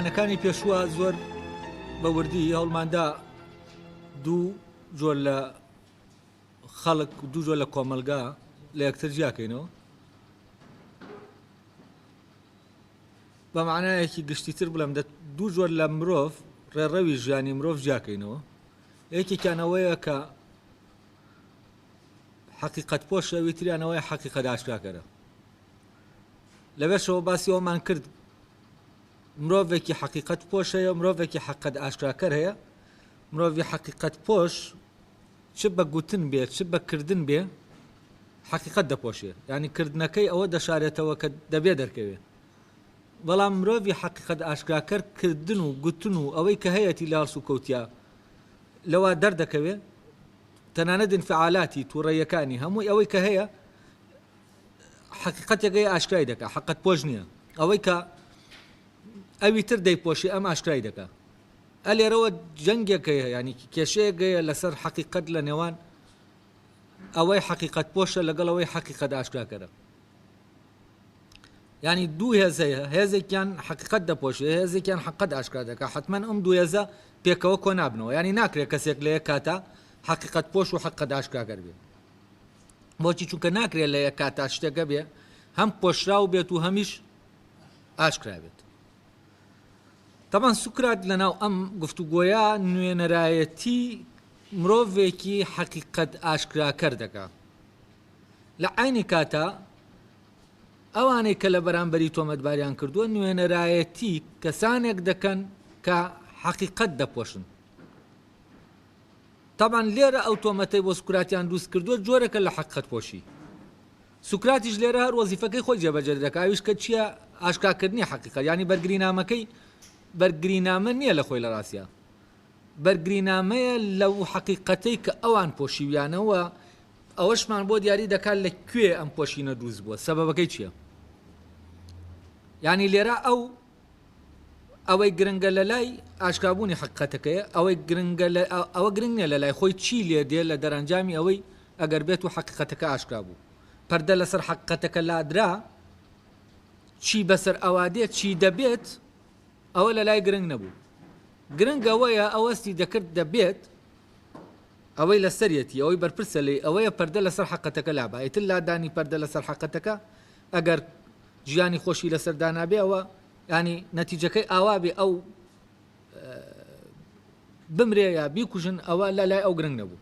لەسەردەمەکانی پێشووە زۆر بە وردی هەوڵماندا دوو جۆر لە خەڵک دوو جۆر لە کۆمەلگا لە یەکتر جیاکەینەوە بە معنایەکی گشتیتر بڵێم دە دوو جۆر لە مرۆڤ ڕێڕەوی ژیانی مرۆڤ جیاکەینەوە یەکێکیانەوەیە کە حقیقت پۆشەوی تریانەوەی حقیقت ئاشکراکەرە لەبێشەوە باسی ئەومان کرد مرۆڤێکی حەقیقەت پۆش هەیە و مرۆڤێکی حەققەت ئاشکراکەر هەیە، مرۆڤی حەقیقەت پۆش چ بە گوتن بێ چ بە کردن بێ حەقیقەت دەپۆشێ یانی کردنەکەی ئەوە دەشارێتەوە کە دەبێ دەرکەوێ بەڵام مرۆڤی حەقیقەت ئاشکراکەر کردن و گوتن و ئەوەی کە هەیەتی لە هەڵسو کەوتیا لەوا دەردەکەوێ تەنانەت انفعالاتی تووڕەیەکانی هەمووی ئەوەی کە هەیە حەقیقەتێگەی ئاشکرای دەکا حەقت پۆش نیە ئەوەی کە ئەوی تر دەیپۆشی ئەم ئاشکرای دەکا ئەلێرەوە جەنگێکەیە ینی کێشەیەگەیە لەسەر حەقیقەت لە نێوان ئەوەی حەقیقەت پۆشە لەگەڵەوەی حەقیقەت ئاشکراکەرە ینی دوو هێزەیە هێزێکیان حقیقت دەپۆشێ هێزێکیان حقت ئاشکرا دەکە حتمما ئەم دوو هێزە پێکەوە کۆ نابنەوە ینی ناکرێت کەسێک لە یەک کاتە حقیقت پۆش و حقت ئاشکراگەر بێت بۆچی چونکە ناکرێت لە یەک کاتا شتەکە بێ هەم پۆشراو بێت و هەمیش ئاشکرابێت تەبان سوکرات لەناو ئەم گفتوگۆیە نوێنەرایەتی مرۆڤێکی حەقیقەت ئاشکراکەر دەکا لە عینی کاتا ئەوانەی کە لە بەرامبەری تۆمەتباریان کردووە نوێنەرایەتی کەسانێک دەکەن کە حەقیقەت دەپۆشن تەبعەن لێرە ئەو تۆمەتەی بۆ سوکراتیان دروست کردووە جۆرێکە لە حەقیقەت پۆشی. سوکراتیش لێرە هەر وەزیفەکەی خۆی جێبەجێ دەکات ئەویش کە چییە؟ ئاشکاکردنی حەقیقەت یانی بەرگرینامەکەی بەرگرینامە نییە لە خۆی لە ڕاستیا بەرگرینامەیە لەو حەقیقەتەی کە ئەوان پۆشیویانە و ئەوەشمان بۆ دیاری دەکات لە کوێ ئەم پۆشینە دروست بووە سەبەبەکەی چییە؟ یانی لێرە ئەو ئەوەی گرنگە لەلای ئاشکابوونی حەقیقەتەکەیە، ئەوەی گرنگە لە ئەوە گرنگ نیە لەلای خۆی چی لێ دێ لە دەرەنجامی ئەوەی ئەگەر بێتو حەقیقەتەکە ئاشکرا بوو پەردە لەسەر حەقیقەتەکە لادرا چی بەسەر ئەوا دێت چی دەبێت ئەوە لەلای گرنگ نەبوو گرنگ ئەوەیە ئەوەستی دەکرد دەبێت ئەوەی لەسەرەتی ئەوەی بەرپرسە لی ئەوەیە پەردە لەسەر حەقەتەکە لابایتر لادانی پەردە لەسەر حەقەتەکە ئەگەر گیانی خۆشی لەسەر دانابێ ئەوە ینی نەتیجەکەی ئاوابێ ئەو بمرێ یا بیکوژن ئەوە لە لای ئەو گرنگ نەبوو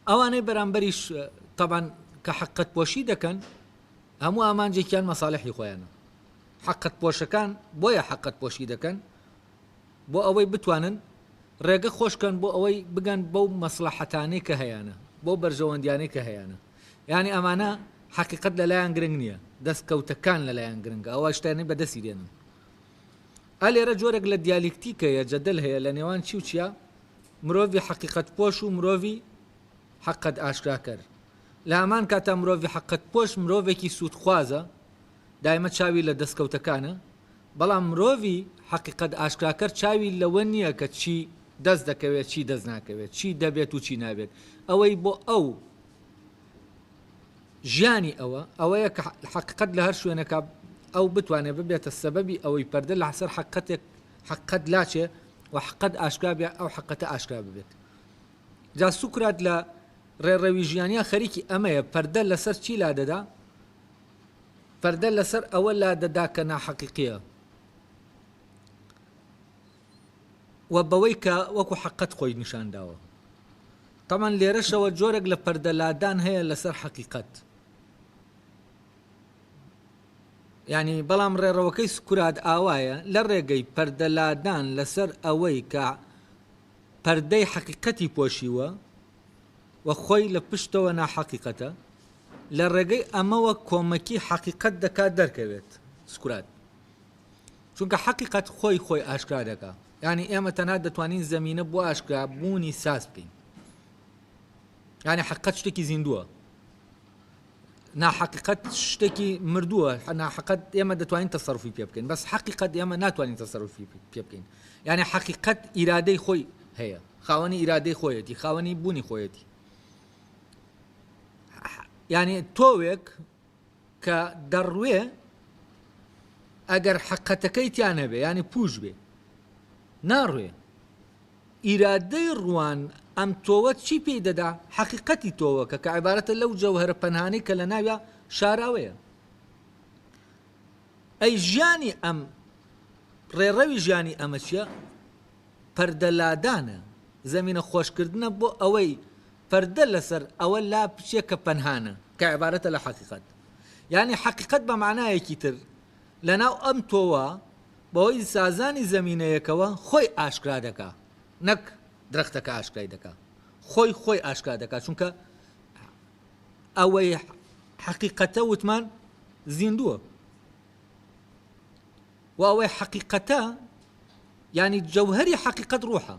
ئەوانەی بەرامبەریش تەبان کە حقت پۆشی دەکەن هەموو ئامانجێکیان مەساالحی خۆیانە حقت پۆشەکان بۆیە حقت پۆشی دەکەن بۆ ئەوەی بتوانن ڕێگە خۆشکەن بۆ ئەوەی بگەن بەو مەسلحەتانەی کە هەیەە بۆ بەرژەوەندیانەی کە هەیەە یانی ئەمانە حەقیقەت لەلایان گرنگ نیە دەست کەوتە کان لەلایان گرنگە ئەوە شتانی بەدەسی دێنن ئە لێرە جۆرێک لە دیالیکتیکە یە جەدەل هەیە لە نێوان چی و چیا مرۆڤی حەقیقەت پۆش و مرۆڤی حەقەت ئاشکراکەر لە هەمان کاتا مرۆڤی حەقەت پۆش مرۆڤێکی سوودخوازە دایمە چاوی لە دەستکەوتەکانە، بەڵام مرۆڤی حەقیقەت ئاشکراکەر چاوی لەوە نییە کە چی دەست دەکەوێت چی دەست ناکەوێت، چی دەبێت و چی نابێت، ئەوەی بۆ ئەو ژیانی ئەوە ئەوەیە کە حەقیقەت لە هەر شوێنێکا ئەو بتوانێت ببێتە سەبەبی ئەوەی پەردە لە سەر حەقیقەتێک حەقیقەت لاچێ و حەقیقەت ئاشکرا بێ ئەو حەقیقەتە ئاشکرا ببێت جا سوکرات لە ڕێڕەوی ژیانیا خەریکی ئەمەیە پەردە لەسەر چی لادەدا پەردە لەسەر ئەوە لادەدا کە ناحەقیقییە و بەوەی کە وەکو حەققەت خۆی نیشانداوە. تەبعەن لێرەشەوە جۆرێک لە پەردە لادان هەیە لەسەر حەقیقەت. یعنی بەڵام ڕێڕەوەکەی سکرات ئاوایە لە ڕێگەی پەردە لادان لەسەر ئەوەی کە پەردەی حەقیقەتی پۆشیوە و خۆی لە پشتەوە ناحەقیقەتە، لە ڕێگەی ئەمەوە کۆمەکی حەقیقەت دەکات دەرکەوێت، سکرات. چونکە حەقیقەت خۆی خۆی ئاشکرا دەکا. یانی ئێمە تەنها دەتوانین زەمینە بۆ ئاشکرا بوونی ساز بکەین. یانی حەقیقەت شتێکی زیندووە. ناحەقیقەت شتێکی مردووە، ناحەقەت ئێمە دەتوانین تەسەروفی پێ بکەین، بەس حەقیقەت ئێمە ناتوانین تەسەروفی پێ بکەین. یانی حەقیقەت ئیرادەی خۆی هەیە، خاوەنی ئیرادەی خۆیەتی، خاوەنی بوونی خۆیەتی. یانی تۆوێک کە دەڕوێ ئەگەر حقەتەکەی تیان هەبێ ینی پوش بێ ناڕوێ ئیرادەی ڕوان ئەم تۆوە چی پێی دەدا حقیقەتی تۆوەکە کە عیبارەتە لەو جەوهرە پەنهانی کە لە ناویا شاراوەیە ئەی ژیانی ئەم ڕێڕەوی ژیانی ئەمە چیە پەردە لادانە، زەمینە خۆشکردنە بۆ ئەوەی پەردە لەسەر ئەوە لا بچێ کە پەنهانە، کە عیبارەتە لە حەقیقەت. یانی حەقیقەت بە مەعنایەکی تر، لە ناو ئەم تۆوە، بەهۆی سازانی زەمینەیەکەوە خۆی ئاشکرا دەکا، نەک درەختەکە ئاشکرای دەکا. خۆی خۆی ئاشکرا دەکا، چونکە ئەوەی حەقیقەتە وتمان زیندووە. وە ئەوەی حەقیقەتە یانی جەوهەری حەقیقەت ڕۆحە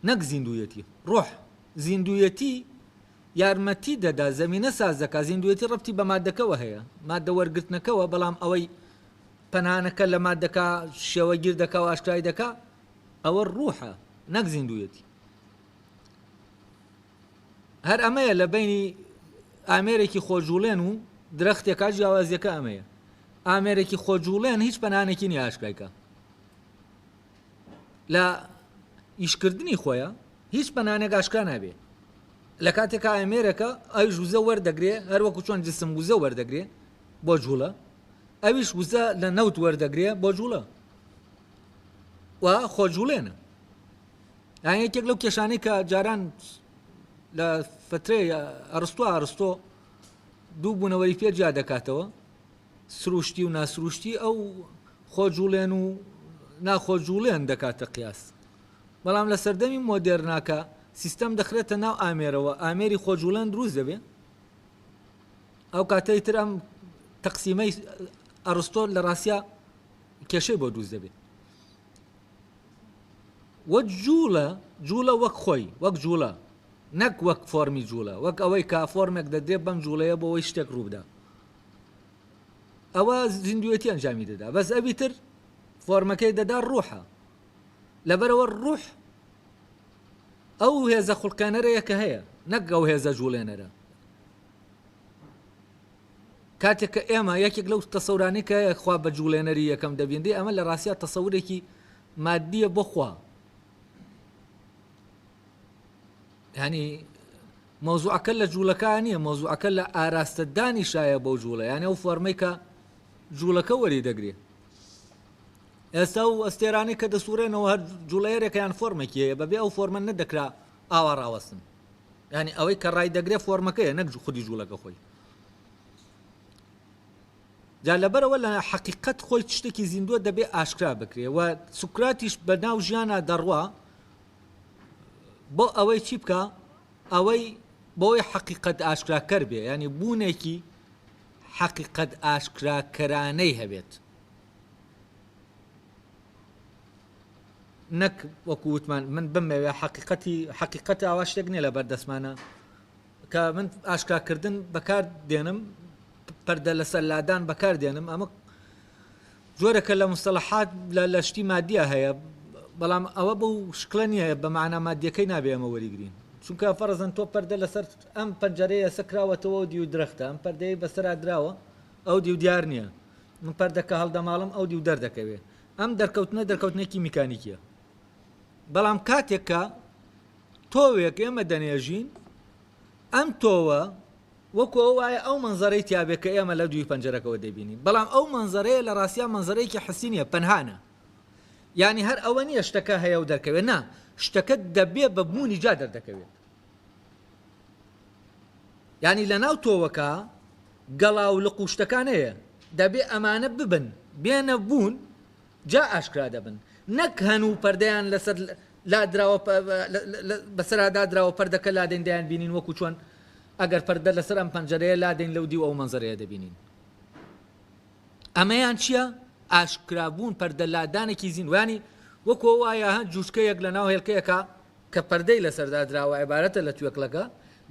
نەک زیندوویەتی ڕۆح زیندوویەتی یارمەتی دەدا زەمینە ساز دەکا زیندوویەتی ڕەبتی بە مادەکەوە هەیە مادە وەرگرتنەکەوە بەڵام ئەوەی پەنانەکە لە مادەکە شێوەگیر دەکا و ئاشکرای دەکا ئەوە ڕوحە نەک زیندوویەتی هەر ئەمەیە لە بەینی ئامێرێکی خۆجوڵێن و درەختێکا جیاوازیەکە ئەمەیە ئامێرێکی خۆجوڵێن هیچ پەنانێکی نی ئاشکایکە لە ئیشکردنی خۆیە هیچ پەنانێک ئاشکا نابێ لە کاتێک ئامێرەکە ئەو ژوزە وەردەگرێ هەروەکو چۆن جسم وزە وەردەگرێ بۆ جوڵە ئەویش وزە لە نەوت وەردەگرێ بۆ جوڵە و خۆجوڵێنە یان یەکێک لەو کێشانەی کە جاران لە فترێ ئەرستو ئارستۆ دوو بوونەوەری پێ جیا دەکاتەوە سروشتی و ناسروشتی ئەو خۆجوڵێن و ناخۆجوڵێن دەکاتە قیاس بەڵام لە سەردەمی مۆدێرناکە سیستەم دەخرێتە ناو ئامێرەوە ئامێری خۆجوڵێن دروست دەبێ ئەو کاتەی تر ئەم تەقسیمەی ئەرستۆ لە ڕاستە کێشەی بۆ دروست دەبێت و جووڵە، جووڵە وەک خۆی، وەک جووڵە، نەک وەک فۆرمی جووڵە، وەک ئەوەی کە فۆرمێک دەدرێت بەم جووڵەیە بۆ ئەوەی شتێک ڕووبدا. ئەوە زیندووێتی ئەنجامی دەدا، بەس ئەوی تر فۆرمەکەی دەدا ڕوحە. لەبەرەوە ڕوح ئەو هێزە خوڵقێنەرەیە کە هەیە، نەک ئەو هێزە جووڵێنەرە. کاتێک کە ئێمە یەکێک لەو تەسەورانەی کە خوا بە جووڵێنەری یەکەم دەبینرێ، ئەمە لە ڕاستیا تەسەورێکی ماددییە بۆ خوا. یانی مەوزوعەکە لە جووڵەکە نییە، مەوزوعەکە لە ئاراستەدانی شایە بەو جووڵە، یانە ئەو فۆرمەی کە جووڵەکە وەری دەگرێ. ئێستا و ئەستێرانەی کە دەسوڕێنەوە هەر جوڵەیەرێکیان فۆرمێکی هەیە بەبێ ئەو فۆرمە نەدەکرا ئاوا ڕاوەستن. یانی ئەوەی کە ڕای دەگرێ فۆرمەکەیە نەک خودی جوڵەکە خۆی جا لەبەرەوە لە حەقیقەت خۆی شتێکی زیندووە دەبێ ئاشکرا بکرێ و سوکراتیش بە ناو ژیانە دەڕوا بۆ ئەوەی چی بکە ئەوەی بۆی حەقیقەت ئاشکراکەر بێ ینی بوونێکی حەقیقەت ئاشکراکەرانەی هەبێت نەک وەکو وتمان من بمەوێ حەقیقەتی حەقیقەت ئاوا شتێک نیە لە بەردەستمانە کە من ئاشکاکردن بەکار دێنم پەردە لەسەر لادان بەکار دێنم ئەمە جۆرەکە لە مستەلحات لە لەشتی مادیە هەیە بەڵام ئەوە بەو شکلە نییە بە معنا مادیەکەی نابێ ئەمە وەریگرین چونکە فەرزن تۆ پەردە لەسەر ئەم پەنجەرەیە سەکراوەتەوە دیو درەختە ئەم پەردەی بەسەرا دراوە ئەو دیو دیار نییە من پەردەکە هەڵدەماڵم ئەو دیو دەردەکەوێ ئەم دەرکەوتنە دەرکەوتنێکی میکانیکیە بەڵام کاتێک کە تۆوێک ئێمە دەنێژین ئەم تۆوە وەکو ئەو وایە ئەو منزەرەی تیاابێت کە ئێمە لە دووی پەنجەرەکەەوە دەبینین بەڵام ئەو منزەرەیە لە ڕاستیا منزەرەیەکی حسینە پەنهانە یعنی هەر ئەوە نییە شتەکە هەیە و دەرکەوێت نا شتەکە دەبێ بە بوونی جا دەردەکەوێت یانی لەناو تۆوەکە گەڵا و لق و شتەکانەیە دەبێ ئەمانە ببن بێنە بوون جا ئاشکرا دەبن نەک هەن و پەردەیان لەسەر لادراوە بەسەرا دادراوە پەردەکە لادەین دەیان بینین وەکو چۆن ئەگەر پەردە لەسەر ئەم پەنجەرەیە لادەین لەو دیو ئەو مەنزەرەیە دەبینین ئەمەیان چییە ئاشکرابوون پەردە لادانێکی زیینوانی وەکۆ وایە هەن جوشکەیەک لە ناو هێلکەیەکە کە پەردەی لەسەر دادراوە عیبارەتە لە توێکڵەکە،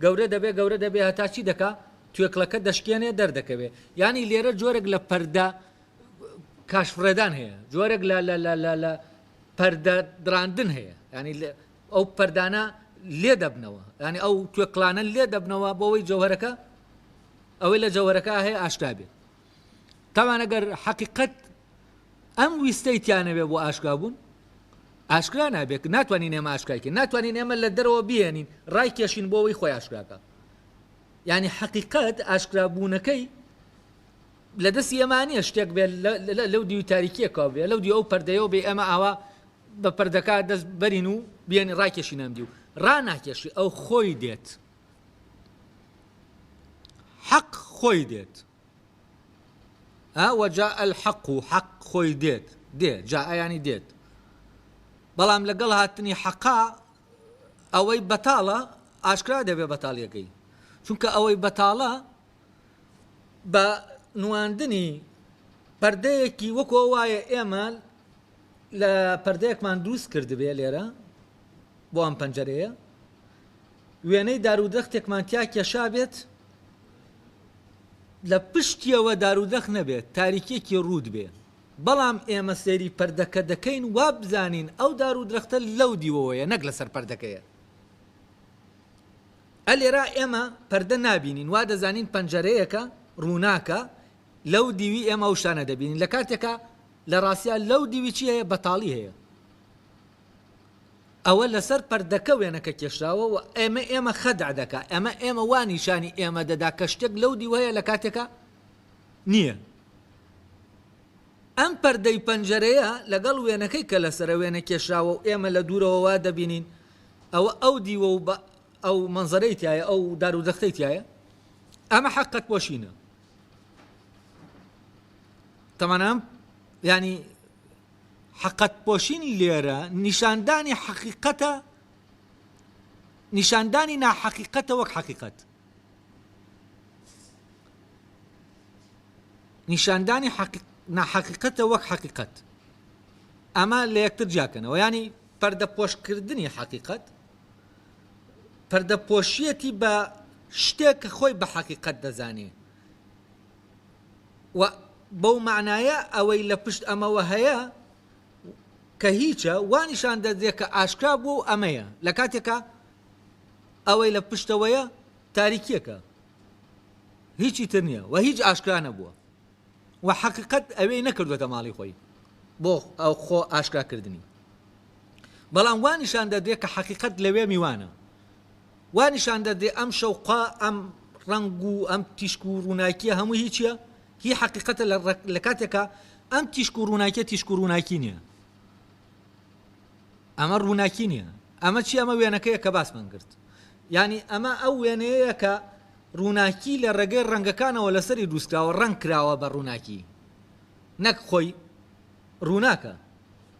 گەورە دەبێ گەورە دەبێ هەتا چی دەکا توێکڵەکە دەشکێنێ دەردەکەوێ یانی لێرە جۆرێک لە پەردە کاشفڕێدان هەیە جۆرێک لە لە لە لە لە پەردە دراندن هەیە ینی ئەو پەردانە لێ دەبنەوە ینی ئەو توێکڵانە لێ دەبنەوە بۆەوەی جەوهرەکە ئەوەی لە جەوهرەکە هەیە ئاشکابێت تاوانەگەر حەقیقەت ئەم ویستەی تیانەبێ بۆ ئاشکرا بوون ئاشکرا نابێت ناتوانین ئێمە ئاشکایکە ناتوانین ئێمە لە دەرەوە بێنین ڕای کێشین بۆەوەی خۆی ئاشکراکە ینی حقیقت ئاشکرابوونەکەی لە دەستی ئەمانە شتێک بێت لەو دیوی تاریکیە کاو بێ لەو دی ئەو پەردەیەوە بێ ئەمە ئاوا بە پەردەکە دەست بەرین و بیێن ڕاکێشی نامدی و ڕناکێشی ئەو خۆی دێت حەق خۆی دێت ها وجاء الحق و حەق خۆی دێت دێ جاء یانی دێت بەڵام لەگەڵ هاتنی حەقا ئەوەی بەتاڵە ئاشکرا دەبێ بەتاڵیەکەی چونکە ئەوەی بەتاڵە بە نواندنی پردەیەکی وەکۆ وایە ئێمە لە پردەیەکمان دروست کردبێ لێرە بۆ ئەم پەنجەرەیە وێنەی دارودەختێکمان تیا کێشا بێت لە پشتیەوە دارودەخ نەبێ تاریکیەکی ڕووت بێ بەڵام ئێمە سەیری پردەکە دەکەین وابزانین ئەو دارودرەختە لەو دیوەوەیە نەک لەسەر پردەکەیە ئە لێرا ئێمە پردە نابینین وا دەزانین پەنجەرەیەکە ڕووناکە لەو دیوی ئێمە ئەو شتانە دەبینین لە کاتێکا لە ڕاستیا لەو دیوی چی هەیە بەتاڵی هەیە ئەوە لەسەر پردەکە وێنەکە کێشراوە و ئێمە ئێمە خەدع دەکا، ئەمە ئێمە وا نیشانی ئێمە دەدا کە شتێک لەو دیو هەیە لە کاتێکا نییە. ئەم پردەی پەنجەرەیە لەگەڵ وێنەکەی کە لەسەرە وێنە کێشراوە و ئێمە لە دوورەوە وا دەبینین ئەوە ئەو دیوە و بە ئەو مەنزەرەی تایە ئەو دار و دەختەی تایە ئەمە حەقت پۆشینە تەمانام ینی حقتپۆشین لێرە نیشاندانی حەقیقەتە، نیشاندانی ناحەقیقەتە وەک حەقیقەت. نیشاندانی حەقیق ناحەقیقەتە وەک حەقیقەت ئەمە لە یەکتر جیاکەنەوە ینی پەردەپۆشکردنی حەقیقەت پەردەپۆشیەتی بە شتێک کە خۆی بە حەقیقەت دەزانێ و بەو مەعنایە ئەوەی لە پشت ئەمەوە هەیە کە هیچە وا نیشان دەدرێت کە ئاشکرا بووە و ئەمەیە لە کاتێکە ئەوەی لە پشتەوەیە تاریکیەکە هیچی تر نییە و هیچ ئاشکرا نەبووە و حەقیقت ئەوەی نەکردوێتە ماڵی خۆی بۆ ئەو خۆ ئاشکراکردنی بەڵام وانیشان دەدرێت کە حەقیقت لەوێ میوانە وا نیشان دەدرێ ئەم شەوقە، ئەم ڕەنگ و ئەم تیشک و ڕووناکییە هەمووی هی چییە؟ هی حەقیقەتە لە لە کاتێکا ئەم تیشک و ڕووناکییە تیشک و ڕووناکی نییە. ئەمە ڕووناکی نییە. ئەمە چییە؟ ئەمە وێنەکەیە کە باسمان کرد. یانی ئەمە ئەو وێنەیە کە ڕووناکی لە ڕێگەی ڕەنگەکانەوە لەسەری دروستکراوە، ڕەنگ کراوە بە ڕووناکی نەک خۆی ڕووناکە.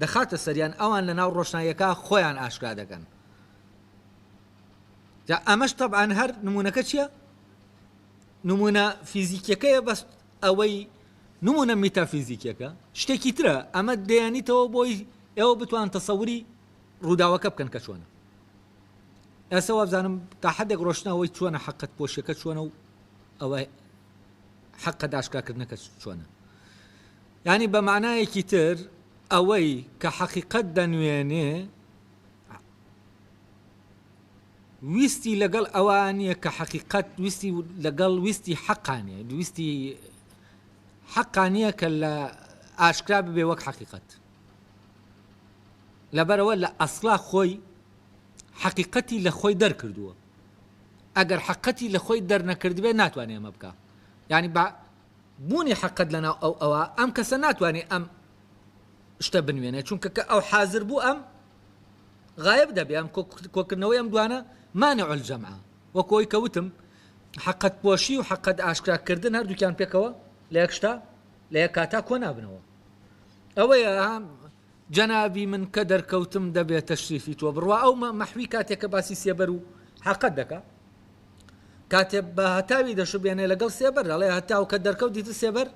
دەخاتە سەریان ئەوان لەناو ڕۆشناییەکە خۆیان ئاشکرا دەکەن جا ئەمەش تەبعاان هەر نمونونەکە چییە؟ نمونە فیزیکیەکەیە بەس ئەوەی نمونە میتافیزیکیەکە شتێکی ترە ئەمە دەیانیتەوە بۆی ئێوە بتوان تەسەوری ڕووداوەکە بکەن کە چۆنە ئێستا وابزانم تا حدێک ڕۆشنەوەی چۆنە حقت پۆشەکە چۆنە و ئەوە حقە داشکاکردنەکە چۆنە یانی بە مەعنایەکی تر ئەوەی کە حەقیقەت دەنوێنێ ویستی لەگەڵ ئەوە نییە کە حەقیقەت ویستی لەگەڵ ویستی حەقا نیە دویستی حەقا نییە کە لە ئاشکرا ببێ وەک حەقیقەت لەبەرەوە لە ئەسڵا خۆی حەقیقەتی لە خۆی دەرکردووە ئەگەر حەقەتی لە خۆی دەرنەکردبێ ناتوانێ ئەمە بکە یعنی بوونی حەقت لەناو ئەو ئەوا ئەم کەسە ناتوانێ ئەم شتە بنوێنێ چونکە کە ئەو حازر بوو ئەم غایب دەبێ ئەم کۆکردنەوەی ئەم دوانە مانع الجمع وەک ئەوی کە وتم حەقت پۆشی و حەقت ئاشکرا کردن هەردووکیان پێکەوە لە یەک شتا لە یەک کاتا کۆ نابنەوە ئەوەیە جەنابی من کە دەرکەوتم دەبێ تەشریفی تۆ بڕوا ئەو مەحوی کاتێ کە باسی سێبەر و حەقەت دەکا کاتێ بە هەتاوی دەشبێنێ لەگەڵ سێبەر دەڵێ هەتاو کە دەرکەوت دیتر سێبەر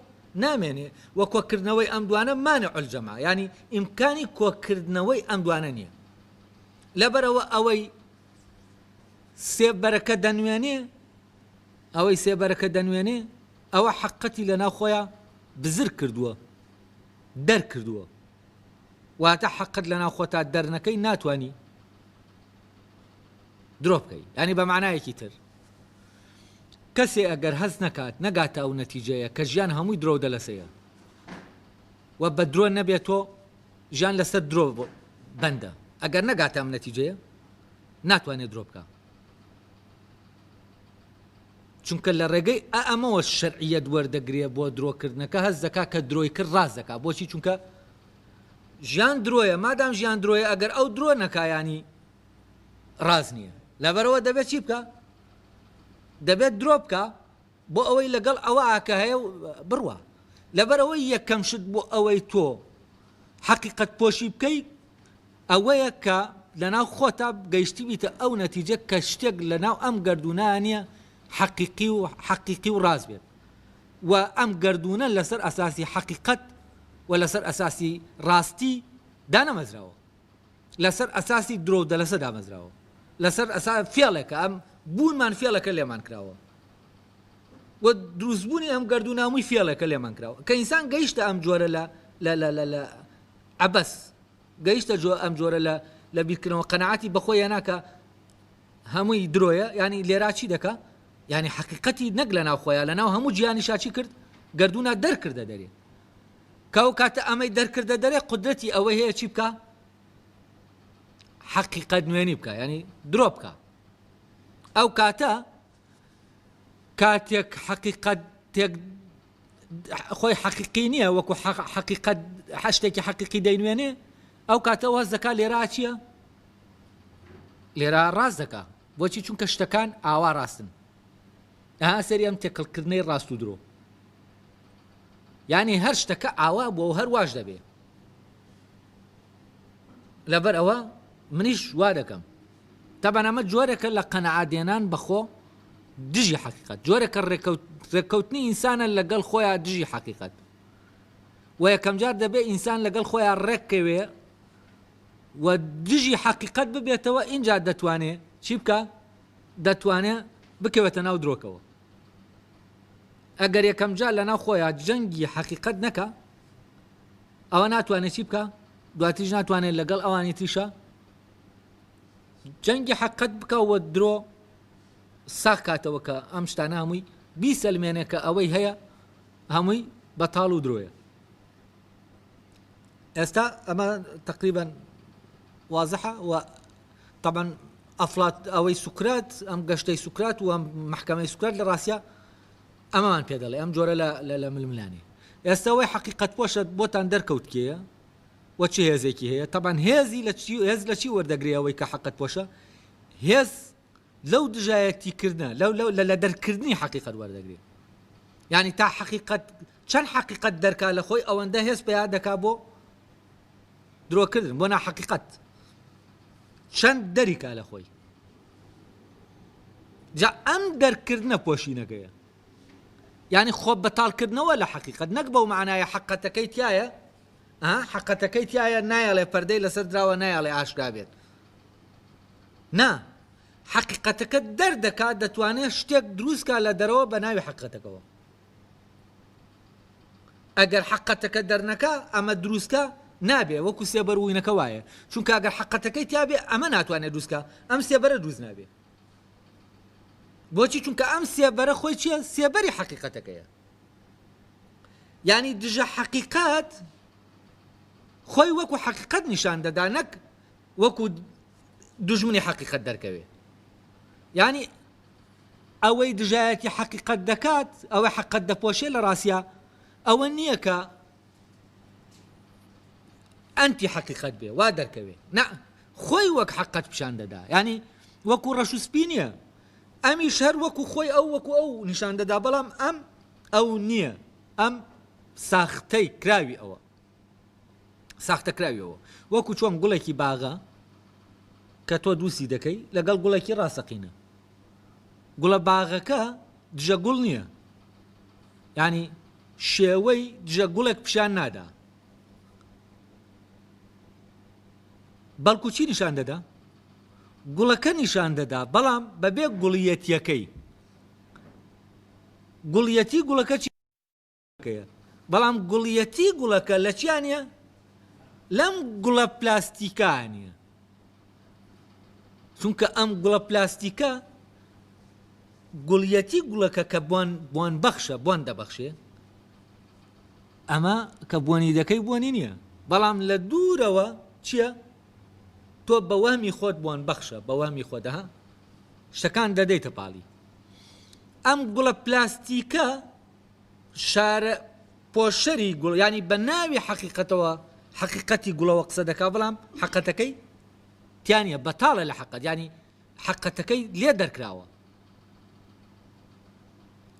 نامێنێ وە کۆکردنەوەی ئەم دوانە مانع الجمع یانی ئیمکانی کۆکردنەوەی ئەم دوانە نییە لەبەرەوە ئەوەی سێبەرەکە دەنوێنێ ئەوەی سێبەرەکە دەنوێنێ ئەوە حەقەتی لە ناو خۆیان بزر کردووە دەرکردووە واتە حەقت لەناو خۆتا دەرنەکەی ناتوانی درۆ بکەی یانی بە معنایەکی تر کەسێ ئەگەر هەست نەکات نەگاتە ئەو نەتیجەیە کە ژیان هەمووی درۆ دەلەسەیە و بە درۆ نەبێت تۆ ژیان لەسەر درۆ بەندە ئەگەر نەگاتە ئەم نەتیجەیە ناتوانێت درۆ بکە چونکە لە ڕێگەی ئە ئەمەوە شەرعیەت وەردەگرێ بۆ درۆکردنەکە هەست دەکا کە درۆی کرد ڕاست دەکا بۆچی چونکە ژیان درۆیە مادام ژیان درۆیە ئەگەر ئەو درۆ نەکایانی ڕاز نییە لەبەرەوە دەبێت چی بکە دەبێت درۆ بکە بۆ ئەوەی لەگەڵ ئەوە ئاکە هەیە و بڕوە لەبەرەوەی یەکەم شت بۆ ئەوەی تۆ حەقیقت پۆشی بکەیت ئەوەیە کە لەناو خۆتا گەیشتبیتە ئەو نەتیجە کە شتێک لەناو ئەم گەردوونە نیە حەقیقی و حەقیقی و ڕاست بێت و ئەم گەردوونە لەسەر ئەساسی حەقیقەت و لەسەر ئەساسی ڕاستی دانەمەزراوە لەسەر ئەساسی درۆ و دەلەسە دامەزراوە لەسەر ئەسا فێڵێکە ئەم بوونمان فێڵەکە لێمان کراوە و دروستبوونی ئەم گەردوونامووی فێڵێکە لێمان کراوە کە ئینسان گەیشتە ئەم جۆرە لە لە لە لە لە عەبەس گەیشتە جۆ ئەم جۆرە لە لە بیرکردنەوە قەناعەتی بەخۆی هێنا کە هەمووی درۆیە یانی لێرا چی دەکا یانی حەقیقەتی نەک لە ناو خۆیان لە ناو هەموو جیانی شاچی کرد گردونا دەرکردە دەرێ کاو کاتە ئەمەی دەرکردە دەرێ قدرەتی ئەوە هەیە چی بکە حەقیقەت نوێنی بکە ینی درۆ بکە ئەو کاتە کاتێک حەقیقەت تێک خۆی حەقیقی نییە وەکو حەقیقەت هەشتێکی حەقیقی دەینوێنێ ئەو کاتە واز دەکات لێرا چییە؟ لێرا ڕاست دەکا بۆچی چونکە شتەکان ئاوا ڕاستن ئەها سەری ئەم تێکەڵکردنەی ڕاست و درۆ ینی هەر شتەکە ئاوا بووە و هەر واش دەبێ لەبەر ئەوە منیش وا دەکەم تەبەن ئەمە جۆرەکە لە قەنەعادێنان بەخۆ دژی حقیقت جۆرەکە ڕێککەوتنی ئینسانە لەگەڵ خۆیان دژی حقیقت و یەکەمجار دەبێت ئینسان لەگەڵ خۆیان ڕێککەوێ و دژی حقیقت ببێتەوە ئینجا دەتوانێ چی بکە دەتوانێ بکەوێتە ناو درۆکەوە ئەگەر یەکەمجار لە ناو خۆیان جەنگی حقیقت نەکە ئەوا ناتوانێت چی بکە دواتریش ناتوانێت لەگەڵ ئەوانی تریشە جەنگی حەقت بکەوە درۆ ساخ کاتەوە کە ئەم شتانە هەمووی بیسەلمێنێ کە ئەوەی هەیە هەمووی بەتاڵ و درۆیە ئێستا ئەمە تقریبان وازحە و طبعا ئەفلات ئەوەی سوکرات ئەم گەشتەی سوکرات و محکمەی سوکرات لە ڕاستە ئەمەمان پێ دەڵێ ئەم جۆرە لە ململانێ. ئێستا وەی حەقیقەتپۆشە بۆتان دەرکەوت کێیە و چ هێزێکی هەیە، تەبعەن هێزی لە چی هێز لە چی وەردەگرێ ئەوەی کە حەقەتپۆشە؟ هێز لەو دژایەتیکردنە لەو لەو لە دەرکردنی حەقیقەت وەردەگرێ. یعنی تا حەقیقەت چەند حەقیقەت دەرکا لە خۆی ئەوەندە هێز پیا دەکا بۆ درۆکردن بۆ ناحەقیقەت چەند دەریکا لە خۆی. جا ئەم دەرککردنە پۆشینەکەیە یعنی خۆ بەتاڵکردنەوە لە حەقیقەت نەک بەو معنایە حەقەتەکەی تایە حەقەتەکەی تایە نایەڵێ پەردەی لەسەر دراوە نایەڵێ ئاشکرا بێت نا حەقیقەتەکە دەردەکات دەتوانێت شتێک دروستکە لە دەرەوە بە ناوی حەقەتەکەەوە ئەگەر حەقەتەکە دەرنەکا ئەمە دروستکە نابێ وەکو سێبەر وینەکە وایە چونکە ئەگەر حەقەتەکەی تیاابێ ئەمە ناتوانێت دروستکە ئەم سێبەرە دروست نابێ بۆچی چونکە ئەم سێبەرە خۆی چیە سێبەری حەقیقەتەکەیە ینی دژە حەقیقەت خۆی وەکو حەقیقەت نیشان دەدا نەک وەکو دژمنی حەقیقەت دەرکەوێ ینی ئەوەی دژایەتی حەقیقەت دەکات، ئەوەی حەققەت دەپۆشێت لە ڕاستیا ئەوە نییە کە ئەنتی حەقیقەت بێ وا دەرکەوێ نە خۆی وەک حەقەت پیشان دەدا ینی وەکو ڕەش و سپی نییە ئەمیش هەر وەکو خۆی ئەو وەکو ئەو نیشان دەدا بەڵام ئەم ئەو نییە ئەم ساختەی کراوی ئەوە ساختەکراویەوە، وەکو چۆن گوڵێکی باغە کە تۆ دووسی دەکەی لەگەڵ گوڵێکی ڕاستەقینە. گوڵە باغەکە دژە گوڵ نییە، یانی شێوەی دژە گوڵێک پیشان نادا، بەڵکو چی نیشان دەدا؟ گوڵەکە نیشان دەدا، بەڵام بەبێ گوڵیەتیەکەی. گوڵیەتی گوڵەکە چی؟ کەیە بەڵام گوڵیەتی گوڵەکە لە چیا نیە لەم گوڵە پلاستیکا نیە چونکە ئەم گوڵە پلاستیکە گوڵیەتی گوڵەکە کە بوان بوان بەخشە بۆن دەبەخشێ ئەمە کە بۆنی دەکەی بۆنی نییە بەڵام لە دوورەوە چییە تۆ بە وەمی خۆت بۆن بەخشە بە وەمی خۆدەها شتەکان دەدەیتە پاڵی ئەم گوڵە پلاستیکە شارە پۆشەری گوڵ یانی بە ناوی حەقیقەتەوە حەقیقەتی گوڵەوە قسە دەکا بەڵام حەقەتەکەی تیانە بەتاڵە لە حەقەت ینی حەقەتەکەی لێ دەرکراوە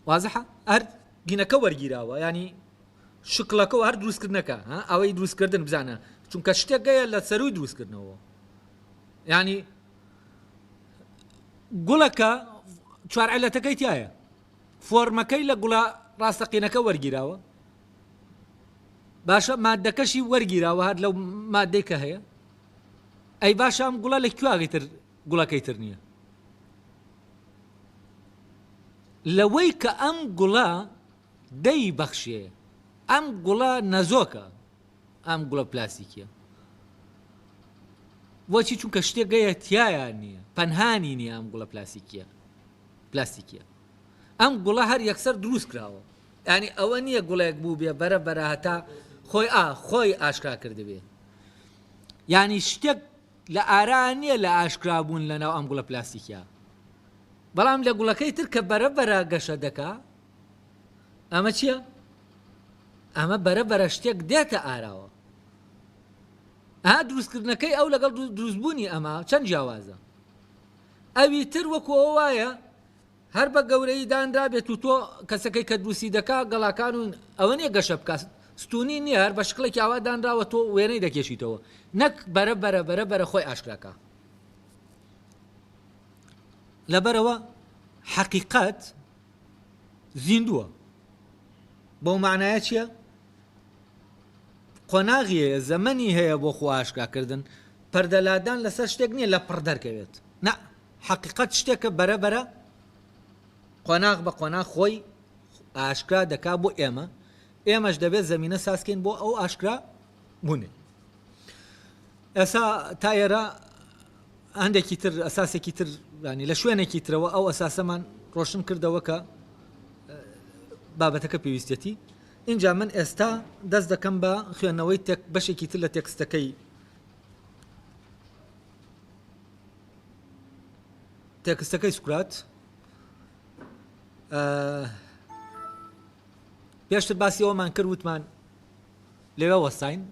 وازح هەر گینەکە وەرگیراوە ینی شکلەکە و هەر دروستکردنەکە ئەوەی دروستکردن بزانە چونکە شتێکگەیە لە سەروی دروستکردنەوە ینی گوڵەکە چوارعلەتەکەی تایە فۆرمەکەی لە گوڵە ڕاستەقینەکە وەرگیراوە باشە مادەکەشی وەرگیراوە هەر لەو مادەی کە هەیە ئەی باشە ئەم گوڵە لە کوواغی تر گوڵەکەی تر نییە لەوەی کە ئەم گوڵە دەی بەخشێ ئەم گوڵە نەزۆکە ئەم گوڵە پلاستیکیە بۆچی چونکە شتێک گەیە تایە نییە پەنهانی نیە ئەم گوڵە پلاسیکیە پلاستیکیە ئەم گوڵە هەر یەکسەر دروست کراوە ینی ئەوە نییە گوڵێک بوو بێ بەرە بەرە هەتا خۆی ئا خۆی ئاشکرا کردبێ ینی شتێک لە ئارا نییە لە ئاشکرا بوون لەناو ئەم گوڵە پلاستیکیا بەڵام لە گوڵەکەی تر کە بەرە بەرە گەشە دەکا ئەمە چییە؟ ئەمە بەرە بەرە شتێک دێتە ئاراوە ئا دروستکردنەکەی ئەو لەگەڵ دروستبوونی ئەمە چەند جیاوازە ئەوی تر وەکو ئەو وایە هەر بە گەورەی دانرا بێت و تۆ کەسەکەی کە دروستی دەکا گەڵاکان و ئەوە نیە گەشە بکات ستونی نییە هەر بە شکڵێکی ئاوا دانراوە تۆ وێنەی دەکێشیتەوە نەک بەرە بەرە بەرە بەرە خۆی ئاشکراکە لەبەرەوە حەقیقەت زیندووە بەو مانایە چیە؟ قۆناغی هەیە زەمەنی هەیە بۆ خۆ ئاشکاکردن پەردە لادان لەسەر شتێک نییە لە پڕ دەرکەوێت نە حەقیقەت شتێکە بەرە بەرە قۆناغ بە قۆناغ خۆی ئاشکرا دەکا بۆ ئێمە ئێمەش دەبێت زمینە سازکەین بۆ ئەو ئاشکرا بونی ئێسا تا ئێرە هەندێکی تر ئەساسێکی تر ینی لە شوێنێکی ترەوە ئەو ئەساسەمان ڕۆشن کردەوە کە بابەتەکە پێویستێتی اینجا من ئێستا دەست دەکەم بە خوێندنەوەی تێک بەشێکی تر لە تێکستەکەی تێکستەکەی سوکرات پێشتر باسی ئەومان کرد وتمان لەوێ وەستاین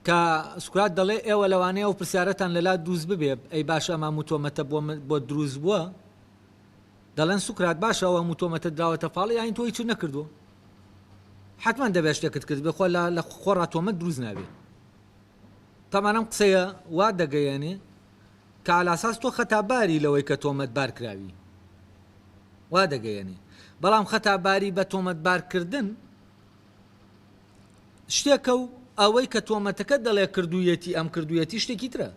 کە سوکرات دەڵێ ئێوە لەوانەیە ئەو پرسیارەتان لەلا دروست ببێ ئەی باشە ئەم هەموو تۆمەتە بۆت دروست بووە دەڵێن سوکرات باشە ئەو هەموو تۆمەتە دراوەتە پاڵ یاین تۆی چ نەکردووە حتمما دەبێ شتێکت کرد بێ خۆ لە خۆڕا تۆمەت دروست نابێت تەمانم قسەیە وا دەگەیەنێ کالاساس تۆ خەتاباری لەوەی کە تۆمەت بارکراوی وا دەگەیەنێ بەڵام خەتاباری بە تۆمەت بارکردن شتێکە و ئەوەی کە تۆمەتەکەت دەڵێ کردوویەتی ئەم کردوویەتی شتێکی ترە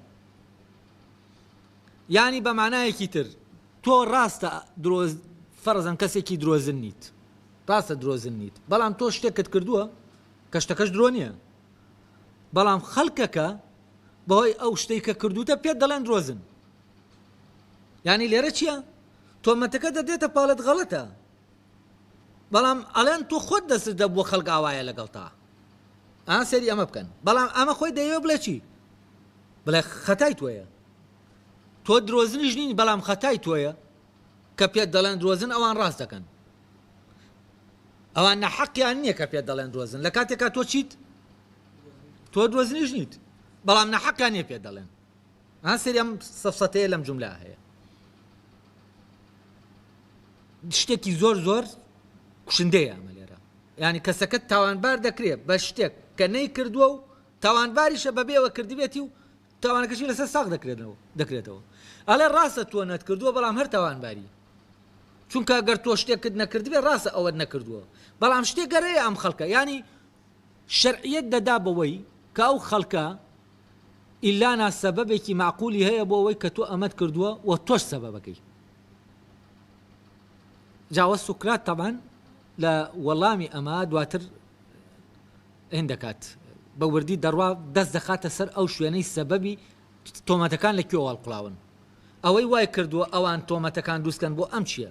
یانی بە مانایەکی تر تۆ ڕاستە درۆز فەرزەن کەسێکی درۆزن نیت ڕاستە درۆزن نیت بەڵام تۆ شتێکت کردووە کە شتەکەش درۆ نییە بەڵام خەڵکەکە بەهۆی ئەو شتەی کە کردوتە پێت دەڵێن درۆزن ینی لێرە چییە تۆمەتەکە دەدێتە پاڵت غەڵەتە بەڵام ئەڵێن تۆ خۆت دەستت دەبووە خەڵک ئاوایە لەگەڵتا ئا سەیری ئەمە بکەن بەڵام ئەمە خۆی دەیەوێ بڵێ چی بڵێ خەتای تۆیە تۆ درۆزنیش نین بەڵام خەتای تۆیە کە پێت دەڵێن درۆزن ئەوان ڕاست دەکەن ئەوان نەحەقیان نییە کە پێت دەڵێن درۆزن لە کاتێکا تۆ چیت تۆ درۆزنیش نیت بەڵام نەحەقیان نیە پێت دەڵێن ها سەیری ئەم سەفسەتەیە لەم جوملە هەیە شتێکی زۆر زۆر کوشندەیە ئەمە لێرە ینی کەسەکەت تاوانبار دەکرێت بە شتێک کە نەی کردووە و تاوانباریشە بەبێەوە کردبێتی و تاوانەکەشی لەسەر ساق دەکرێتەوە دەکرێتەوە ئەڵێ ڕاستە تۆ نەت کردووە بەڵام هەر تاوانباری چونکە گەر تۆ شتێکت نەکردبێ ڕاستە ئەوەت نەکردووە بەڵام شتێک گەرەیە ئەم خەڵکە ینی شەرعیەت دەدا بەوەی کە ئەو خەڵکە ئیلانا سەبەبێکی مەعقولی هەیە بۆ ئەوەی کە تۆ ئەمەت کردووە و تۆش سەبەبەکەی. جا وە سوکرات تەبعەن لە وەڵامی ئەمە دواتر هێند دەکات بە وردی دەڕوا دەست دەخاتە سەر ئەو شوێنەی سەبەبی تۆمەتەکان لە کوێوە هەڵقوڵاون ئەوەی وای کردووە ئەوان تۆمەتەکان دروست کەن بۆ ئەم چیە؟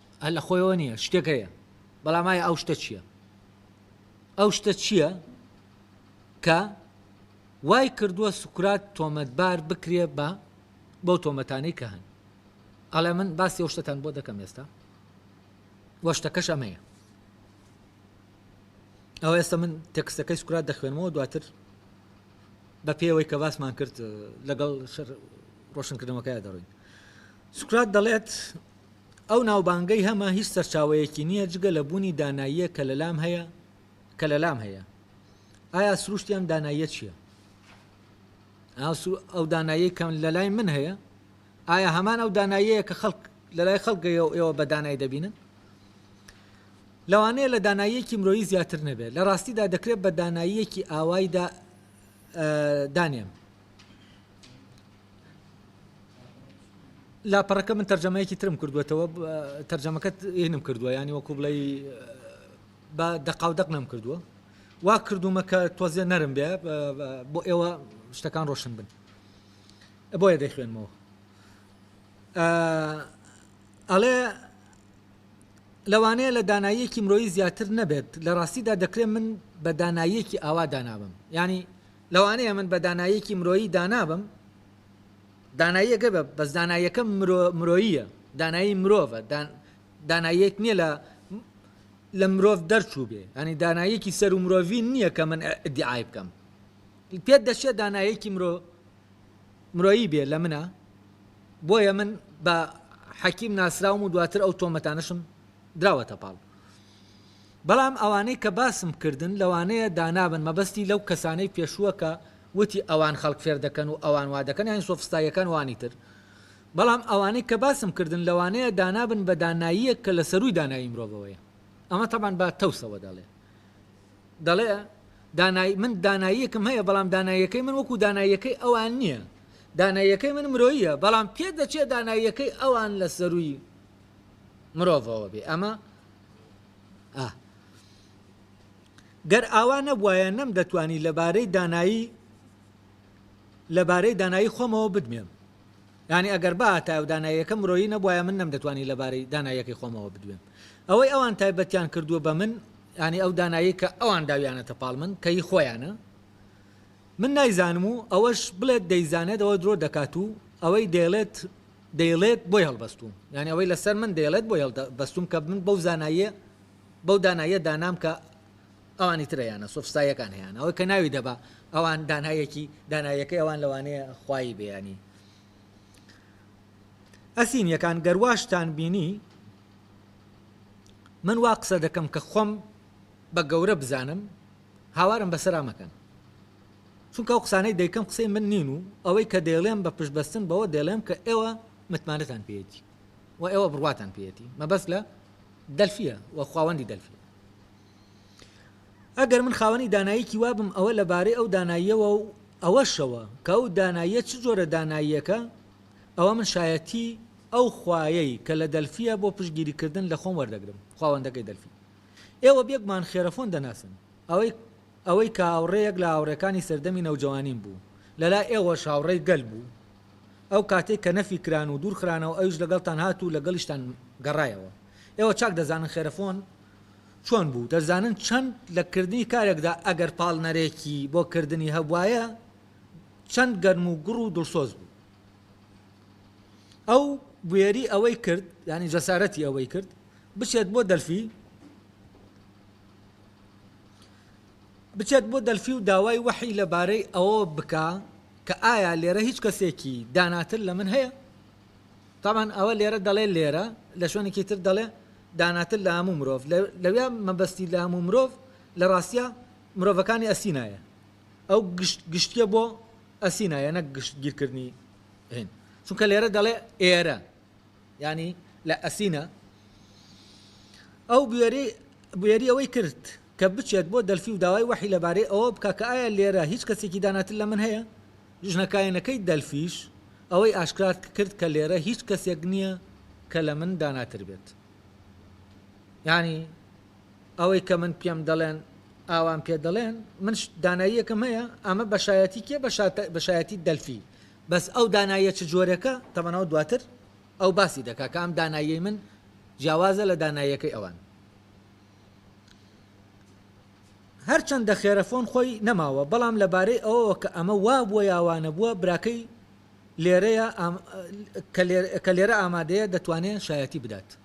هەر لە خۆیەوە نییە شتێک هەیە بەڵام ئایا ئەو شتە چییە ئەو شتە چییە کە وای کردووە سوکرات تۆمەتبار بکرێ بە بەو تۆمەتانەی کە هەن ئەڵێ من باسی ئەو شتتان بۆ دەکەم ئێستا وەشتەکەش ئەمەیە ئەو ئێستا من تەکسەکەی سوکرات دەخوێنمەوە دواتر بە پێوەی کە باسمان کرد لەگەڵ ڕۆشنکردنەوەکەی دەڕوین سوکرات دەڵێت ئەو ناوبانگەی هەمە هیچ سەرچاوەیەکی نییە جگە لە بوونی داناییەک کە لەلام هەیە کە لەلام هەیە. ئایا سروشتی ئەم داناییە چییە؟ ئایا سروو ئەو داناییەی کە لەلای من هەیە ئایا هەمان ئەو داناییەیە کە خەڵک لەلای خەڵکگەیە و ئێوە بە دانای دەبینن؟ لەوانەیە لە داناییەکی مرۆیی زیاتر نەبێت، لە ڕاستیدا دەکرێت بە داناییەکی ئاوایدا دانێم. لاپەڕەکە من تەرجەمەیەکی ترم کردووەتەوە تەرجەمەکەت هینم کردووە ینی وەکو بڵێ بە دەقاودەق نەم کردووە وا کردومە کە تۆزیە نەرم بێ بۆ ئێوە شتەکان ڕۆشن بن بۆیە دەیخوێنمەوە ئەڵێ لەوانەیە لە داناییەکی مرۆیی زیاتر نەبێت لە ڕاستیدا دەکرێت من بە داناییەکی ئاوا دانابم ینی لەوانەیە من بە داناییەکی مرۆیی دانا بم، داناییەکە بە، بەس داناییەکە مرۆ، مرۆییە، دانایی مرۆڤە، دا، داناییەک نییە لە، لە مرۆڤ دەرچووبێ، یانی داناییەکی سەروو مرۆڤی نییە کە من ئیدیعای بکەم. پێت دەچێ داناییەکی مرۆ، مرۆیی بێ لە منا؟ بۆیە من بە، حەکیم، ناسراوم و دواتر ئەو تۆمەتانەشم دراوەتە پاڵ. بەڵام ئەوانەی کە باسم کردن لەوانەیە دانابن مەبەستی لەو کەسانەی پێشووە کە وتی ئەوان خەڵک فێر دەکەن و ئەوان وا دەکەن یانی سۆفستاییەکان و ئەوانی تر بەڵام ئەوانەی کە باسم کردن لەوانەیە دانابن بە داناییەک کە لە سەرووی دانایی مرۆڤەوەیە ئەمە تەبعەن بە تەوسەوە دەڵێ دەڵێ دانای من داناییەکم هەیە بەڵام داناییەکەی من وەکو داناییەکەی ئەوان نییە داناییەکەی من مرۆییە بەڵام پێ دەچێت داناییەکەی ئەوان لە سەرووی مرۆڤەوە بێ ئەمە ئاه. گەر ئاوا نەبوایە نەم دەتوانی لەبارەی دانایی لەبارەی دانایی خۆمەوە بدوێم یعنی ئەگەر باتایە و داناییەکە مرۆیی نەبوایە من نەم دەتوانی لەبارەی داناییەکەی خۆمەوە بدوێم ئەوەی ئەوان تایبەتیان کردووە بە من ینی ئەو دانایی کە ئەوان داویانەتە پاڵ من کەی خۆیانە من نایزانم و ئەوەش بڵێت دەیزانێت ئەوە درۆ دەکات و ئەوەی دەیڵێت دەیڵێت بۆی هەڵبەستووم یانی ئەوەی لەسەر من دەیڵێت بۆی هەڵدەبەستووم کە من بەو زاناییە بەو داناییە دانام کە ئەوانی تر هەیانە سۆفستاییەکان هەیانە ئەوەی کە ناوی دەبا ئەوان دانایەکی دانایەکەی ئەوان لەوانەیە خوایی بێ یانی ئەسینیەکان گەر واشتان بینی من وا قسە دەکەم کە خۆم بە گەورە بزانم هاوارم بەسەرا مەکەن چونکە ئەو قسانەی دەیکەم قسەی من نین و ئەوەی کە دەیڵێم بە پشتبەستن بەوە دەیڵێم کە ئێوە متمانەتان پێیەتی و ئێوە بڕواتان پێیەتی مەبەست لە دەلفیە و خواوەندی دەلفیە ئەگەر من خاوەنی داناییکی وابم ئەوە لەبارەی ئەو داناییەوە و ئەوەشەوە کە ئەو داناییە چ جۆرە داناییەکە ئەوە من شایەتی ئەو خوایەی کە لە دەلفیە بۆ پشگیریکردن لە خۆم وەردەگرم خواوەندەکەی دەلفی ئێوە بێگومان خێرەخۆن دەناسن. ئەوەی ئەوەی کە هاوڕێیەک لە هاوڕێکانی سەردەمی نەوجەوانیم بوو، لە لای ئێوەش هاوڕێی گەل بوو. ئەو کاتەی کە نەفی کران و دوور خرانەوە ئەویش لەگەڵتان هات و لەگەڵیشتان گەڕایەوە. ئێوە چاک دەزانن خێرەخۆن چۆن بوو، دەزانن چەند لە کردنی کارێکدا ئەگەر پاڵنەرێکی بۆ کردنی هەبوایە چەند گەرم و گوڕ و دڵسۆز بوو. ئەو بوێری ئەوەی کرد یانی جەسارەتی ئەوەی کرد بچێت بۆ دەلفی بچێت بۆ دەلفی و داوای وەحی لەبارەی ئەوە بکا کە ئایا لێرە هیچ کەسێکی داناتر لە من هەیە تامان ئەوە لێرە دەڵێ لێرە لە شوێنێکی تر دەڵێ داناتر لە هەموو مرۆڤ لەوێ مەبەستی لە هەموو مرۆڤ لە ڕاستە مرۆڤەکانی ئەسینایە ئەو گشت گشتە بۆ ئەسینایە نەک گشت گیرکردنی هێن چونکە لێرە دەڵێ ئێرە ینی لە ئەسینە ئەو بوێری بوێری ئەوەی کرد کە بچێت بۆ دەلفی و داوای وەحی لەبارەی ئەوە بکە کە ئایا لێرە هیچ کەسێکی داناتر لە من هەیە ژنەکایەنەکەی دەلفیش ئەوەی ئاشکرات کرد کە لێرە هیچ کەسێک نییە کە لە من داناتر بێت ینی ئەوەی کە من پێم دەڵێن ئاوام پێ دەڵێن من داناییەکم هەیە ئەمە بەشایەتی کێ بەشایەتی دەلفی بەس ئەو داناییە چ جۆرێکە تەمەنەوە دواتر ئەو باسی دەکا کە ئەم دانایی من جیاوازە لە داناییەکەی ئەوان هەرچەندە خێرەفۆن خۆی نەماوە بەڵام لەبارەی ئەوەوە کە ئەمە وا بووە یاوانە بووە براکەی لێرەیە کە لێرە ئامادەیە دەتوانێت شایەتی بدات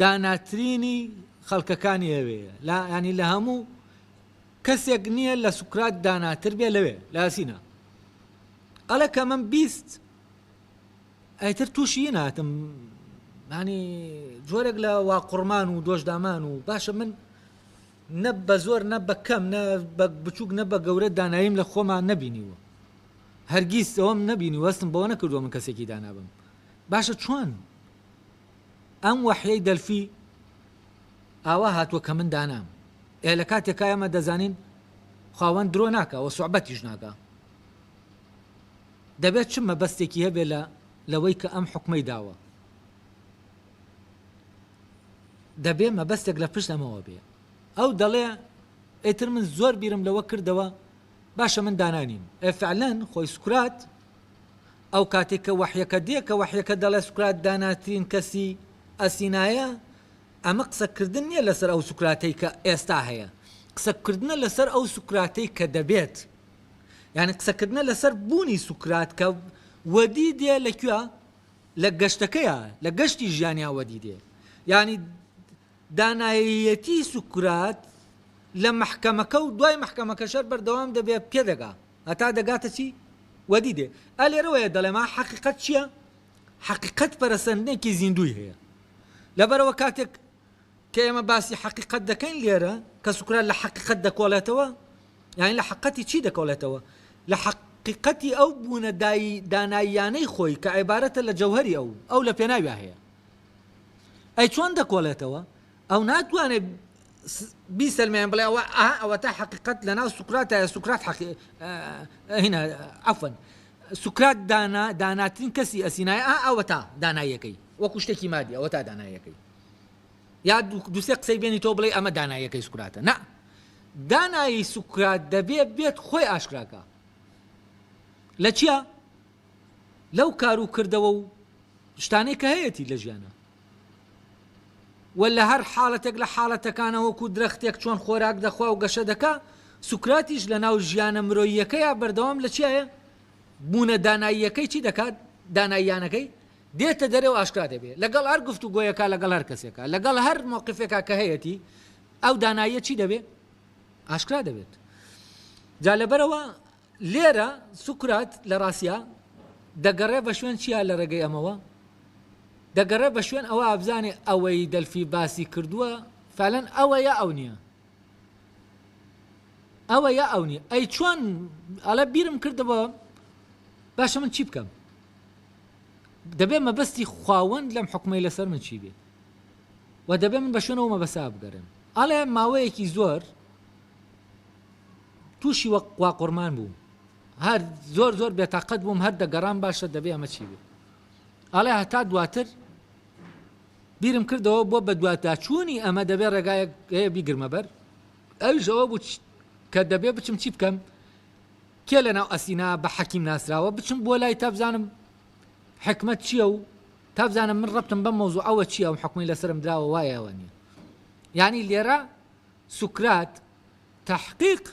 داناترینی خەڵکەکانی ئەوێیە لا ینی لە هەموو کەسێک نییە لە سوکرات داناتر بێ لەوێ لاسینە ئەڵە کە من بیست ئەیتر تووشی ناتم ینی جۆرێک لە واقڕمان و دۆشدامان و باشە من نە بە زۆر نە بە کەم نە بە بچووک نە بە گەورە دانایم لە خۆمان نەبینیوە هەرگیز ئەوم نەبینی وەستم بەوە نەکردووە من کەسێکی دانابم باشە چۆن ئەم وەحیەی دەلفی ئاوا هاتوە کە من دانام ئێ لە کاتێکا ئێمە دەزانین خواوەند درۆ ناکا وە سوعبەتیش ناکا دەبێت چ مەبەستێکی هەبێ لە لەوەی کە ئەم حکومەی داوە دەبێ مەبەستێک لە پشت ئەمەوە بێ ئەو دەڵێ ئەتر من زۆر بیرم لەوە کردەوە باشە من دانانیم ئەفعلەن خۆی سکرات ئەو کاتەی کە وەحیەکە دێ کە وەحیەکە دەڵێ سوکرات داناترین کەسی ئەسینایە ئەمە قسە کردن نیە لەسەر ئەو سوکراتەی کە ئێستا هەیە قسە کردنە لەسەر ئەو سوکراتەی کە دەبێت یعنی قسە کردنە لەسەر بوونی سوکرات کە وەدی دێ لە کوێ لە گەشتەکەیە لە گەشتی ژیانیا وەدی دێ یعنی دانایەیەتی سوکرات لە مەحکەمەکە و دوای مەحکەمەکەشەر بەردەوام دەبێ پێ دەگا هەتا دەگاتە چی؟ وەدی دێ ئە لێرەوەیە دەڵێم ئا حەقیقەت چییە؟ حەقیقەت پەرەسەندنێکی زیندووی هەیە لەبەرەوە کاتێک کە ئێمە باسی حەقیقەت دەکەین لێرە کە سوکرات لە حەقیقەت دەکۆڵێتەوە یانی لە حەقەتی چی دەکۆڵێتەوە لە حەق حەقیقەتی ئەو بوونە داناییانەی خۆی کە عێبارەتە لە جەوهەری ئەو ئەو لە پێناویا هەیە ئەی چۆن دەکۆڵێتەوە؟ ئەو ناتوانێت بیسەلمێنێت بڵێ ئەوە ئا ئەوەتا حەقیقەت لەناو سوکراتایە سوکرات حەقی هینا عەفەن سوکرات دانا داناترین کەسی ئەسینای ئا ئەوەتا دانایەکەی وەکو شتێکی مادی ئەوەتا دانایەکەی یا دوسێ قسەی بێنی تۆ بڵێ ئەمە دانایەکەی سوکراتە نا دانایی سوکرات دەبێت بێت خۆی ئاشکراکە لە چیە؟ لەو کارو کردەوە و شتانەی کە هەیەتی لە ژیانا وە لە هەر حاڵەتێک لە حاڵەتەکانا وەکو درەختێک چۆن خۆراک دەخوا و گەشە دەکا سوکراتیش لە ناو ژیانە مرۆییەکەیا بەردەوام لە چیایە بوونە داناییەکەی چی دەکات داناییانەکەی دێتە دەرێ و ئاشکرا دەبێ لەگەڵ هەر گفتو گۆیەکە لەگەڵ هەر کەسێکە لەگەڵ هەر مۆقفێکا کە هەیەتی ئەو داناییە چی دەبێ ئاشکرا دەبێت جا لەبەرەوە لێرە سوکرات لە ڕاستیا دەگەڕێ بە شوێن چیا لە ڕێگەی ئەمەوە؟ دەگەڕێ بە شوێن ئەوە ئابزانێ ئەوەی دەلفی باسی کردووە فەلەن ئەوە یا ئەو نییە ئەوە یا ئەو نیە ئەی چۆن ئەڵە بیرم کردەوە باشە من چی بکەم دەبێ مەبەستی خواوەند لەم حکومی لەسەر من چی بێ و دەبێ من بە شوێنەوە مەبەسا بگەرم ئەڵێ ماوەیەکی زۆر توشی وەک قواقورمان بووم هەر زۆر زۆر بێتاقەت بووم هەر دەگەڕام باشە دەبێ ئەمە چی بێ ئەڵێ هەتا دواتر بیرم کردەوە بۆ بە دواتداچوونی ئەمە دەبێ ڕێگایەک هەیە بیگرمە بەر ئەویش ئەوە بوو کە دەبێ بچم چی بکەم کێ لە ناو ئەسینا بە حەکیم ناسراوە بچم بۆ لای تابزانم حکمت چییە و تابزانم من ڕبتم بە مۆزوو ئەوە چی ئەو حکومی لەسرم دراوە وایەوە نیە ینی لێرە سوکرات تەحقیق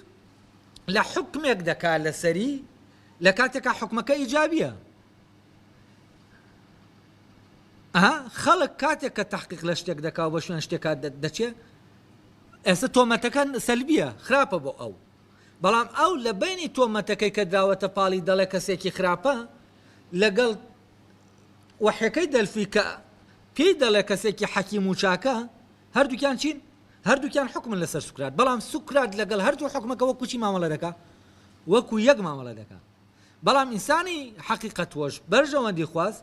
لە حوکمێک دەکا لەسەری لە کاتێکا حوکمەکە ئیجابیە ئەها خەڵک کاتێک کە تحقیق لە شتێک دەکا و بە شوێن شتێکات دەچێ ئێستا تۆمەتەکە سەلبیە خراپە بۆ ئەو بەڵام ئەو لە بینی تۆمەتەکەی کە دراوەتە پاڵی دەڵێ کەسێکی خراپە لەگەڵ وەحەکەی دەلفی کە پێی دەڵێ کەسێکی حەکیم و چاکە هەردووکیان چین؟ هەردووکیان حوکمن لەسەر سوکرات، بەڵام سوکرات لەگەڵ هەردوو حوکمەکە وەکو چی مامەڵە دەکا؟ وەکو یەک مامەڵە دەکا. بەڵام ئینسانی حەقیقەتوەش، بەرژەوەندیخواز،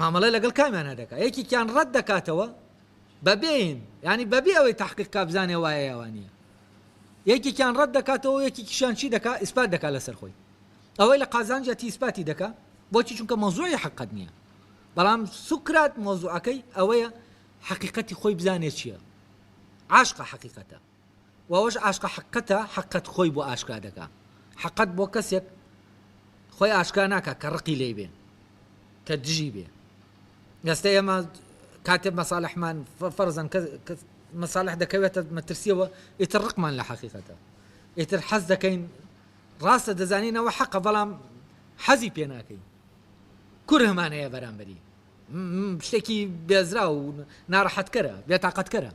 مامەڵە لەگەڵ کامیانا دەکا؟ یەکێکیان ڕەت دەکاتەوە بە بێین، یانی بە بێ ئەوەی تەحقیق کا بزانێ وایە یا وا نییە. یەکێکیان ڕەت دەکاتەوە و یەکێکیشیان چی دەکا؟ ئیسپات دەکا لەسەر خۆی. ئەوەی لە قازانجە تیسپاتی دەکا، بۆچی؟ چونکە مەوزوعی حەقت نییە. بەڵام سوکرات مەوزوعەکەی ئەوەیە حەقیقەتی خۆی بزانێ چیە عاشقە حەقیقەتە و ئەوەش عاشقە حەقەتە حەقەت خۆی بۆ ئاشکرا دەکا حەقەت بۆ کەسێک خۆی ئاشکرا ناکە کە ڕقی لی بێ کە دژی بێ ئێستا ئێمە کاتێ مەساالحمان فەرزان مەساالح دەکەوێتە مەترسیەوە ئیتر ڕقمان لە حەقیقەتە ئیتر حەز دەکەین ڕاستە دەزانینەوە حەقە بەڵام حەزی پێ ناکەین کرهمان هەیە بەرامبەری. شتێکی بێزراو و ناڕەحەتکەرە، بێتاقەتکەرە.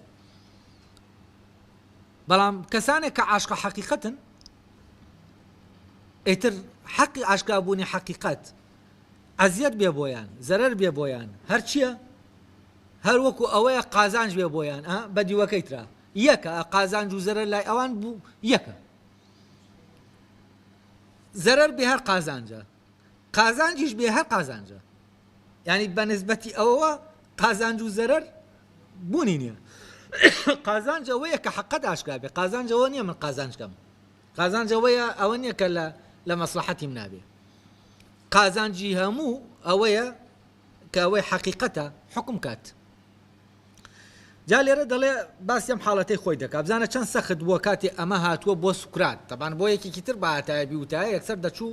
بەڵام کەسانێک کە عاشقە حەقیقەتن ئیتر حەقی ئاشکابوونی حەقیقەت ئەزیەت بێ بۆیان زەرەر بێ بۆیان هەرچیە هەر وەکو ئەوەیە قازانج بێ بۆیان ئە بە دیوەکەی ترا یەکە قازانج و زەرەر لای ئەوان بوو یەکە زەرەر بێ هەر قازانجە قازانجیش بێ هەر قازانجە یعنی بە نسبەتی ئەوەوە قازانج و زەرەر بوونی نییە قازانجەوەیە کە حقت ئاشکرا بێ قازانجەوە نییە من قازانجکەم قازانجەوەیە ئەوە نییە کە لە لە مەسلحەتیم نابێ قازانجی هەموو ئەوەیە کە ئەوەی حەقیقەتە حوکم کات جا لێرە دەڵێ باسی ئەم حاڵەتەی خۆی دەکات بزانە چەند سەخت بووە کاتێ ئەمە هاتووە بۆ سوکرات تەبان بۆ یەکێکی تر باتایە بیوتایە یەکسەر دەچوو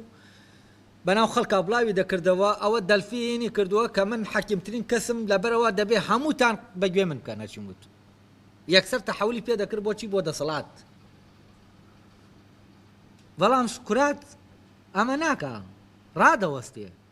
بەناو خەڵکا بڵاوی دەکردەوە ئەوە دەلفینی کردووە کە من حەکیمترین کەسم لەبەرەوە دەبێ هەمووتان بەگوێ من بکەن هەرچی وت یەکسەر تەحولی پێ دەکرد بۆچی بۆ دەسەڵات بەڵام سوکرات ئەمە ناکە ڕادەوەستێ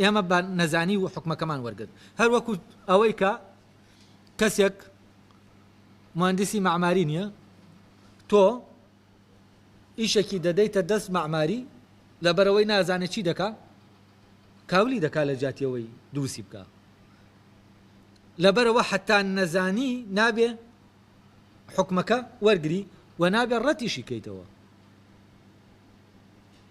ئێمە بە نەزانی و حوکمەکەمان وەرگرت هەر وەکو ئەوەی کە کەسێک موهەندیسی مەعماری نیە تۆ ئیشەکی دەدەیتە دەست مەعماری لەبەرەوەی نازانێت چی دەکا کاولی دەکا لە جاتیەوەی دروستی بکە لەبەرەوە حتا نەزانی نابێ حکومەکە وەرگری و نابێ ڕەتیشی کەیتەوە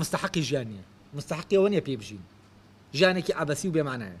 مستەحەقی ژیان نیە مستەحەقی ئەوە نیە پێی بژین ژیانێکی عەبەسی و بێ مەعنایە.